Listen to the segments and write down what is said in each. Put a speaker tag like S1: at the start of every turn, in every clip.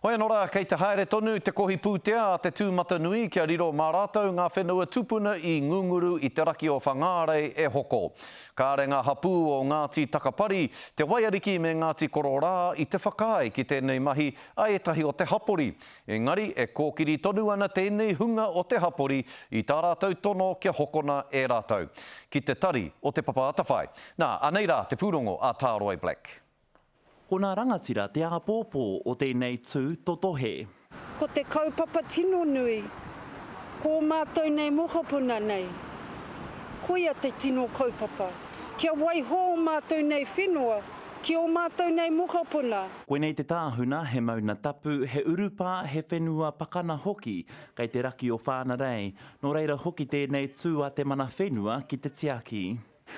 S1: Hoi anō rā, kei te haere tonu te kohi pūtea a te tūmatanui kia riro mā rātou ngā whenua tupuna i ngunguru i te raki o Whangārei e hoko. Kāre ngā hapū o Ngāti Takapari, Te Waiariki me Ngāti Kororā i te whakaae ki tēnei mahi a ētahi o te hapori, engari e kōkiri tonu ana tēnei hunga o te hapori i tā rātou tono kia hokona e rātou ki te tari o Te Papa Atawhai. Nā, anei rā te pūrongo a Tāroe Black. Ko nā
S2: rangatira te āpōpō o tēnei tū totohe. Ko te
S3: kaupapa tino nui, ko ō mātou nei mokopuna nei, koia te tino kaupapa, kia waiho ō mātou nei whenua ki ō mātou nei mokopuna. Koinei te tāhuna,
S2: he mauna tapu, he urupā, he whenua pakana hoki kei te raki o Whānarei, nō reira hoki tēnei tū a Te Mana Whenua ki te tiaki.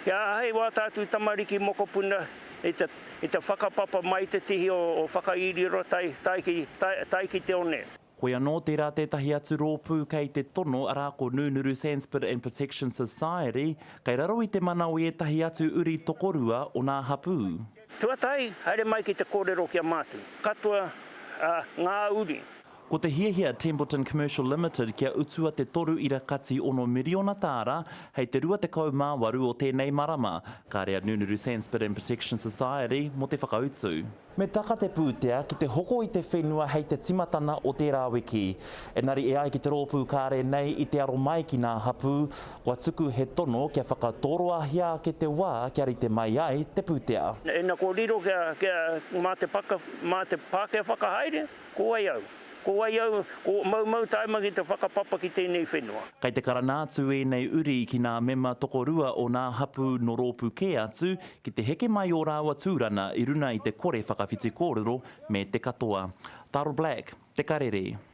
S2: Kia āhei
S4: wā tātou tamariki mokopuna i te whakapapa mai i te tihi o Whakairiiro tae ki te one. Hoi anō, tērā
S2: tētahi atu rōpū kei te tono, arā, ko Nūnuru Sandspit and Protection Society, kei raro i te mana o ētahi atu uri tokorua o nā hapū. Tuatahi,
S4: haere mai ki te kōrero ki a mātou katoa, ā, ngā uri. Ko te hiahia
S2: Templeton Commercial Limited kia utua te toru ira kati ono miriona tāra hei te 28 o tēnei marama, kāre a Nunuru Sandspit and Protection Society mō te whakautu. Me taka te pūtea ki te hoko i te whenua hei te timatana o tērā wiki. Enari e ai ki te rōpū kāre nei i te aro mai ki nā hapū, kua tuku he tono kia whakatoroahia ake te wā kia rite mai ai te pūtea. Ina ko riro
S4: kia mā te Pākehā whakahaere. Ko wai au? Ko wai au? Ko Maumau Taima ki te whakapapa ki tēnei whenua. Kei te karana atu
S2: ēnei uri ki nā mema tokorua o nā hapū nō rōpū kē atu ki te heke mai ō rāua tūrana i runa i te kore whakawhiti kōrero me te katoa. Taro Black, Te Karere.